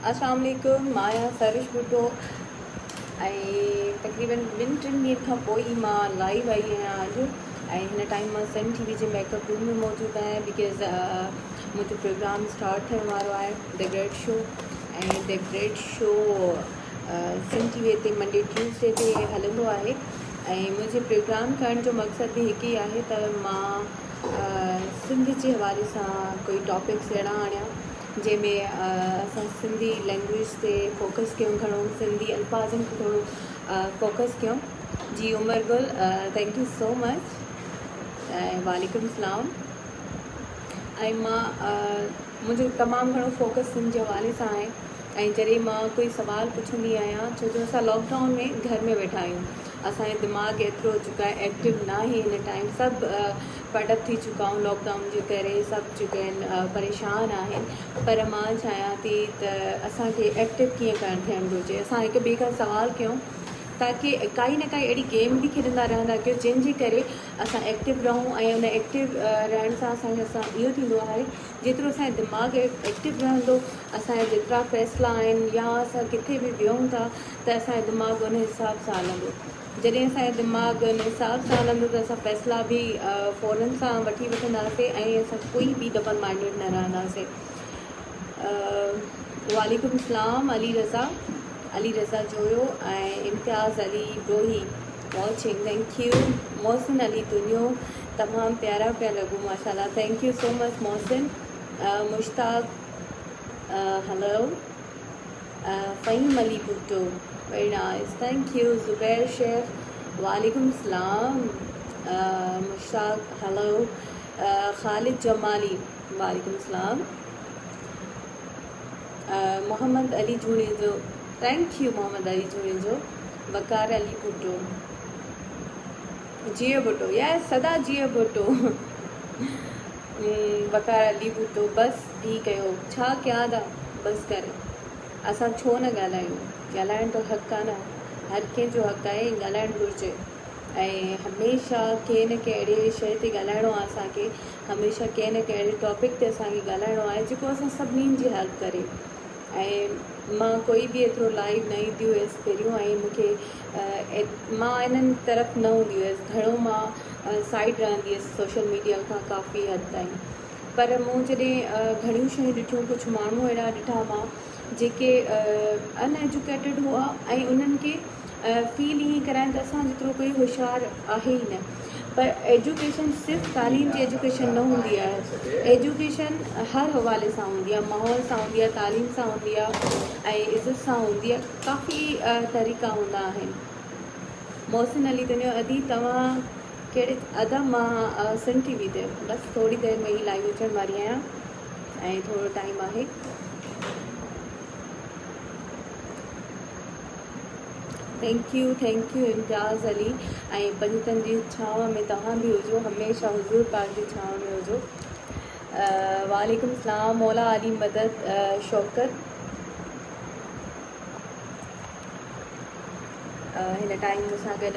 اسلام عليڪم مان آهيان سروش ڀٽو ۽ تقريبن ٻن ٽن ڏينهن کان پوء ئي مان لائيو آئي آهيان اڄ ۽ هن ٽائيم مان سن ٽي وي جي ميڪ اپ روم ۾ موجود آهيان بڪاز منهنجو پروگرام اسٽارٽ ٿيڻ وارو آهي the great show ۽ the great show Sun T V تي منڊي ٽيوزڊي تي هلندو آهي ۽ منهنجي پروگرام ڪرڻ جو مقصد به هڪ ئي آهي ته مان سنڌ جي حوالي سان ڪوئي ٽاپڪس اهڙا آڻيان جنهن ۾ اسان سنڌي لينگويج تي فوڪس ڪيون گهڻو سنڌي الفاظن تي ٿورو فوڪس ڪيون جي Umar Gul thank you so much ۽ وعليڪم السلام ۽ مان منهنجو تمام گهڻو فوڪس سنڌ جي حوالي سان آهي ۽ جڏهن مان ڪوئي سوال پڇندي آهيان ڇو جو اسان لاڪڊائون ۾ گهر ۾ ويٺا آهيون اسانجو دماغ ايترو جيڪا ايڪٽو ناهي هن ٽائيم سڀ فيڊ اپ ٿي چڪا آهيون لاڪ ڊائون جي ڪري سڀ جيڪي آهن پريشان آهن پر مان چاهيان ٿي ته اسان کي ايڪٽو ڪيئن ڪرڻ ٿيڻ گهرجي اسان هڪ ٻئي کان سوال ڪيون تاڪي ڪائي نه ڪائي اهڙي گيم به کيڏندا رهندا ڪيو جنهن جي ڪري اسان ايڪٽو رهون ۽ ان ايڪٽو رهڻ سان اسان کي اسان اهو ٿيندو آهي جيترو اسانجو دماغ ايڪٽو رهندو اسانجا جيترا فيصلا آهن يا اسان ڪٿي به ويهون ٿا ته اسانجو دماغ ان حساب سان هلندو جڏهن اسان جو دماغ ان حساب سان هلندو ته اسان فيصلا به فورن سان وٺي وٺنداسين ۽ اسان ڪوئي بي ڊبل مائنڊيڊ نه رهنداسين وعليڪم السلام Ali Raza Ali Raza Joyo ۽ Imtiaz Ali Brohi watching thank you Mohsin Ali Dunyo تمام پيارا پيا لڳو ماشاءالله thank you so much Mohsin Mushtaq hello Fahim Ali Bhutto پرڻائستائين کيو زبير شيخ وعليڪم السلام مشتاق هلو خالد جمالي وعليڪم السلام محمد علي جوڻيجو ٿينڪ يو محمد علي جوڻيجو وقار علي ڀٽو جيئي ڀٽو يا سدا جيئي ڀٽو وقار علي ڀٽو بس ڊي ڪيو ڇا ڪيا ادا بس ڪر اسان ڇو نه ڳالهايون ڳالهائڻ ته حق آ نه هر ڪنهن جو حق آهي ڳالهائڻ گهرجي ۽ هميشه ڪنهن نه ڪنهن اهڙي شئي تي ڳالهائڻو آ اسان کي هميشه ڪنهن نه ڪنهن اهڙي ٽاپڪ تي اسان کي ڳالهائڻو آهي جيڪو اسان سڀنين جي هيلپ ڪري ۽ مان ڪوئي به ايترو لائيو نه ايندي هيس پهريون ۽ مونکي مان انهن طرف نه هوندي هيس گهڻو مان سائيڊ رهندي هيس سوشل ميڊيا کان ڪافي حد تائين پر مون جڏهن گهڻيون شيون ڏٺيون ڪجهه ماڻهو اهڙا ڏٺا مان جيڪي ان ايجوڪيٽيڊ هئا ۽ انهن کي فيل ائين ڪرايم ته اسان جيترو ڪوئي هوشيار آهي ئي نه پر ايجوڪيشن صرف تعليم جي ايجوڪيشن نه هوندي آهي ايجوڪيشن هر حوالي سان هوندي آهي ماحول سان هوندي آهي تعليم سان هوندي آهي ۽ عزت سان هوندي آهي ڪافي طريقا هوندا آهن محسن علي تنيو ادي توهان ڪهڙي ادا مان سنڌ ٽي وي تي بس ٿوري دير ۾ ئي لائيو اچڻ واري آهيان ۽ ٿورو ٽائيم آهي thank you thank you Imtiaz Ali ۽ پنجتن جي ڇانو ۾ توهان به هجو هميشه حضور پاڪ جي ڇانو ۾ هجو وعليڪم السلام مولا علي مدد شوڪت هن ٽائيم مون سان گڏ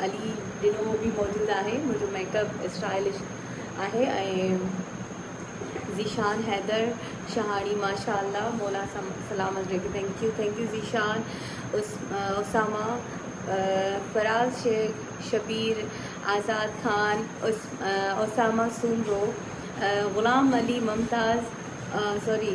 علي ڊنو به موجود آهي منهنجو ميڪ اپ اسٽائلش آهي ۽ ذيشان حيدر شهاڻي ماشاء الله مولا سلامت رکي thank you thank you Zeeshan Usama Faraz Shaikh Shabbir Azad Khan Usama Soomro Ghulam Ali ممتاز سوري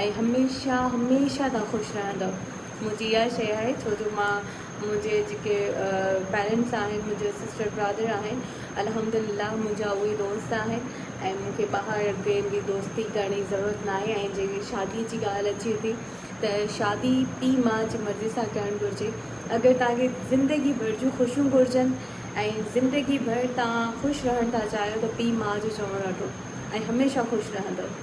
۽ هميشه هميشه تهان خوش رهندؤ منهنجي اها شيء آهي ڇو جو مان منهنجي جيڪي پيرينٽس آهن منهنجا سسٽر برادر آهن الحمدلله منهنجا اهي دوست آهن ۽ مون کي ٻاهر ڪنهن جي دوستي ڪرڻ جي ضرورت نه آهي ۽ جي شادي جي ڳالهه اچي ٿي ته شادي پي ماء جي مرضي سان ڪرڻ گهرجي اگر توهان کي زندگي ڀر جون خوشيون گهرجن ۽ زندگي ڀر توهان خوش رهڻ ٿا چاهيو ته پي ماء جو چوڻ رکو ۽ هميشه خوش رهندؤ.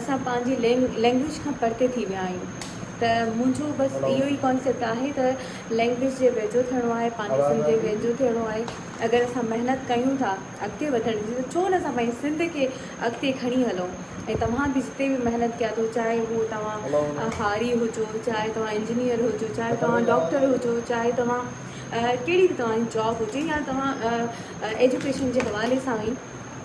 اسان پنهنجي لينگويج کان پرتي ٿي ويا آهيون ته منهنجو بس اهو ئي ڪانسيپٽ آهي ته لينگويج جي ويجهو ٿيڻو آهي پنهنجي سنڌ جي ويجهو ٿيڻو آهي اگر اسان محنت ڪيون ٿا اڳتي وڌڻ جي ته ڇو نه اسان پنهنجي سنڌ کي اڳتي کڻي هلون ۽ توهان به جتي به محنت ڪيا اٿو چاهي هو توهان هاري هجو چاهي توهان انجنيئر هجو چاهي توهان ڊاڪٽر هجو چاهي توهان ڪهڙي به توهان جاب هجي يا توهان ايجوڪيشن جي حوالي سان ئي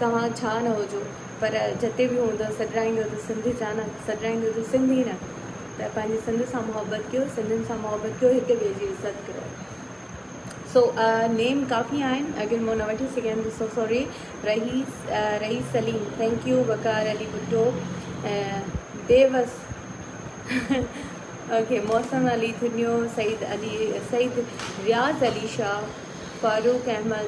توهان ڇا نه هجو پر جتي به هوندو سڏرائيندو ته سنڌ جا نه سڏرائيندو ته سنڌ ئي نه ته پنهنجي سنڌ سان محبت ڪيو سنڌين سان محبت ڪيو هڪ ٻئي جي عزت ڪيو سو نيم ڪافي آهن اگر مون نه وٺي سگهيم ته سو sorry Rais Rais Saleem thank you Waqar Ali Bhutto Bewas okay Mohsin Ali ٿنيو Saeed Ali Saeed Riaz Ali Shah Farooq Ahmed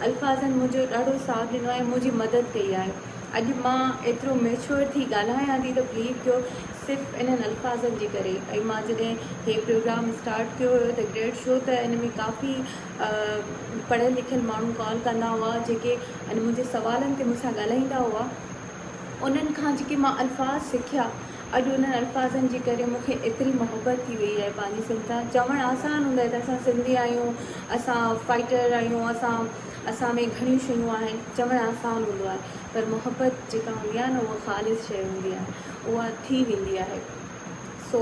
الفاظن منهنجو ڏاڍو ساٿ ڏنو آهي منهنجي مدد ڪئي آهي اڄ مان ايترو ميچوئر ٿي ڳالهايان ٿي ته بليو ڪيو صرف انهن الفاظن جي ڪري ۽ مان جڏهن هي پروگرام اسٽارٽ ڪيو هيو ته گريڊ شو ته ان ۾ ڪافي پڙهيل لکيل ماڻهو ڪال ڪندا هئا جيڪي ان منهنجي سوالن تي مون سان ڳالهائيندا هئا انهن کان جيڪي مان الفاظ سکيا اڄ انهن الفاظن جي ڪري مون کي ايتري محبت ٿي وئي آهي پنهنجي سنڌ سان، چوڻ آسان هوندو آهي ته اسان سنڌي آهيون، اسان فائيٽر آهيون، اسان اسان ۾ گهڻيون شيون آهن، چوڻ آسان هوندو آهي پر محبت جيڪا هوندي آهي نه اها خالص شيء هوندي آهي، اها ٿي ويندي آهي سو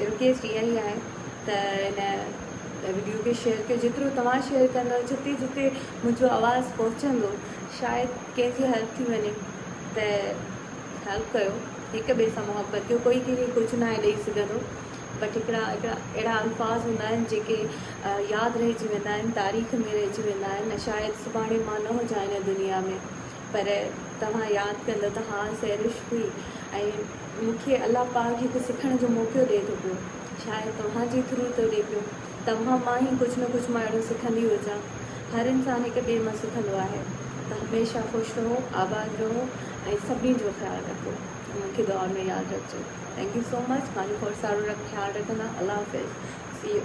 رڪويسٽ اها ئي آهي ته هن وڊيو کي شيئر ڪيو جيترو توهان شيئر ڪندو جتي جتي منهنجو آواز پهچندو شايد ڪنهن جي هيلپ ٿي وڃي ته خيال ڪيو هڪ ٻئي سان محبت ڪيو ڪوئي ڪنهن کي ڪجهه ناهي ڏئي سگهندو بٽ هڪڙا هڪڙا اهڙا الفاظ هوندا آهن جيڪي ياد رهجي ويندا آهن تاريخ ۾ رهجي ويندا آهن ۽ شايد سڀاڻي مان نه هجان هن دنيا ۾ پر توهان ياد ڪندو ته ها سهرش هئي ۽ مون کي الله پاڪ هڪ سکڻ جو موقعو ڏئي ٿو پيو شايد توهان جي ٿرو ٿو ڏئي پيو توهان مان هي ڪجهه نه ڪجهه مان اهڙو سکندي هجان هر انسان هڪ ٻئي مان سکندو آهي ته هميشه خوش رهو آباد رهو. ۽ سڀني جو خيال رکو مون کي دعا ۾ ياد رکجو ٿينڪ يو سو مچ ماني ڦوڙ سارو خيال رکندا الله حافظ سي يو.